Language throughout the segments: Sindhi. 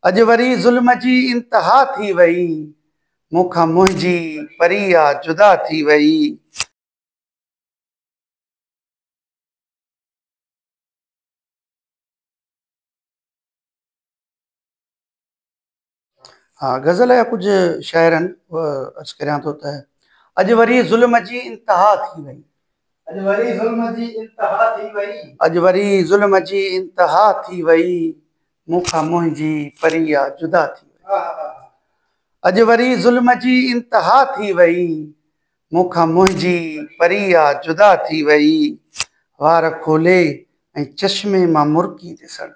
اڄ وري ظلم جي انتها ٿي وئي. مون کان منهنجي پريا جدا ٿي وئي. غزل جا ڪجهه شعر آهن اهي عرض ڪريان ٿو ته. اڄ وري ظلم جي انتها ٿي وئي. اڄ وري ظلم جي انتها ٿي وئي. اڄ وري ظلم جي انتها ٿي وئي. مون کان منهنجي پريا جدا ٿي وئي. اڄ وري ظلم جي انتها ٿي وئي. مون کان منهنجي پريا جدا ٿي وئي. وار کولي ۽ چشمي مان مرڪي ڏسڻ.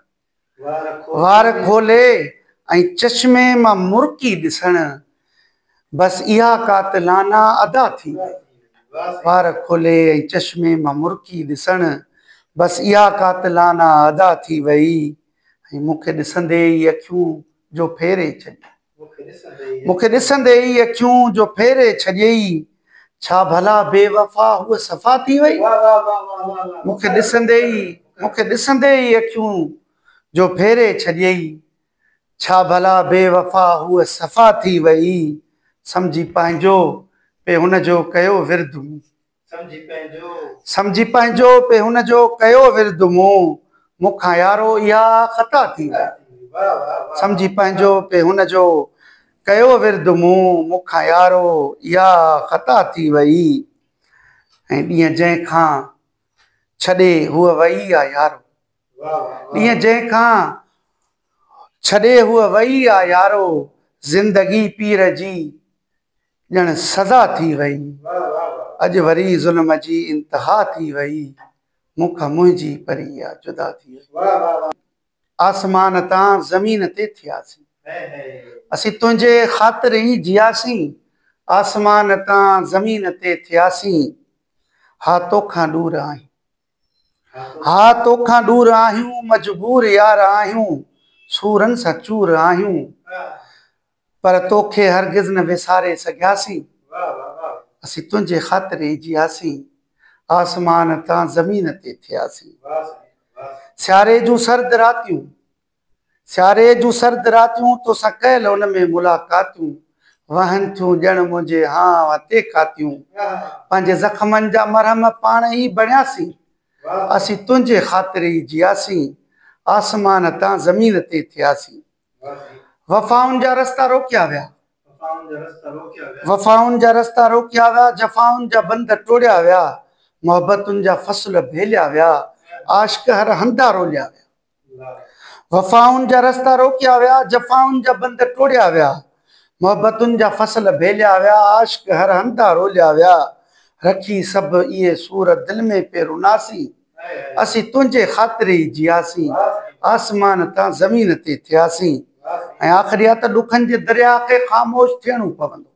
وار کولي ۽ چشمي مان مرڪي ڏسڻ. بس اها قاتلانا ادا ٿي وئي. وار کولي ۽ چشمي مان مرڪي ڏسڻ، بس اها قاتلانا ادا ٿي وئي ۽ مون کي ڏسندي ئي اکيون جو ڦيري ڇڏيئي. مون کي ڏسندي ئي اکيون جو ڦيري ڇڏيئي. ڇا ڀلا بي وفا هوء صفا ٿي وئي. مون کي ڏسندي ئي، مون کي ڏسندي ئي اکيون جو ڦيري ڇڏيئي. ڇا ڀلا بي وفا هوء صفا ٿي وئي. سمجهي پنهنجو پي هن جو ڪيو ورد مون. سمجهي پنهنجو پي هن جو ڪيو ورد مون. مون کان يارو اها خطا ٿي وئي. سمجهي پنهنجو پي هن جو ڪيو ورد مون. مون کان يارو اها خطا ٿي وئي. ۽ ڏينهن جنهن کان. ڇڏي هوء وئي آ يارو. ڏينهن جنهن کان ڇڏي هوء وئي آ يارو، زندگي پير جي ڄڻ سزا ٿي وئي. اڄ وري ظلم جي انتها ٿي وئي، مون کان منهنجي پري آ جدا ٿي وئي. آسمان تان زمين تي ٿياسين. اسين تنهنجي خاطر ئي جياسين. آسمان تان زمين تي ٿياسين. ها توکان ڏور آهيون. ها توکان ڏور آهيون. مجبور يار آهيون. سورن سان چور آهيون. پر توکي هرگز نه وساري سگهياسين، اسين تنهنجي خاطر ئي جياسين، آسمان تان زمين تي ٿياسين. سياري جون سرد راتيون، سياري جون سرد راتيون، توسان ڪيل ان ۾ ملاقاتيون، وهن ٿيون ڄڻ منهنجي هانء تي ڪاتيون، پنهنجي زخمن جا مرهم پاڻ ئي بڻياسين، اسين تنهنجي خاطر ئي جياسين، آسمان تان زمين تي ٿياسين. وفائن جا رستا روڪيا ويا. وفائن جا رستا روڪيا ويا. جفائن جا بند ٽوڙيا ويا. محبتن جا فصل ڀيليا ويا. عاشق هر هنڌان روليا ويا. وفائن جا رستا روڪيا ويا. جفائن جا بند ٽوڙيا ويا. محبتن جا فصل ڀيليا ويا. عاشق هر هنڌان روليا ويا. رکي سڀ اهي سور دل ۾ پيروناسين. اسين تنهنجي خاطر ئي جياسين، آسمان تان زمين تي ٿياسين ۽ آخري آ ته ڏکن جي درياء کي خاموش ٿيڻو پوندو.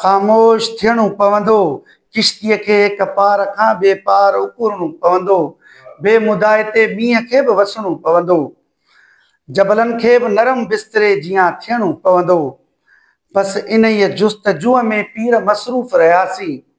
خاموش ٿيڻو پوندو. ڪشتيء کي هڪ پار کان ٻئي پار اڪرڻو پوندو. بي مدائي تي مينهن کي به وسڻو پوندو. جبلن کي به نرم بستري جيان ٿيڻو پوندو. بس انهيء جستجوء ۾ پير مصروف رهياسين.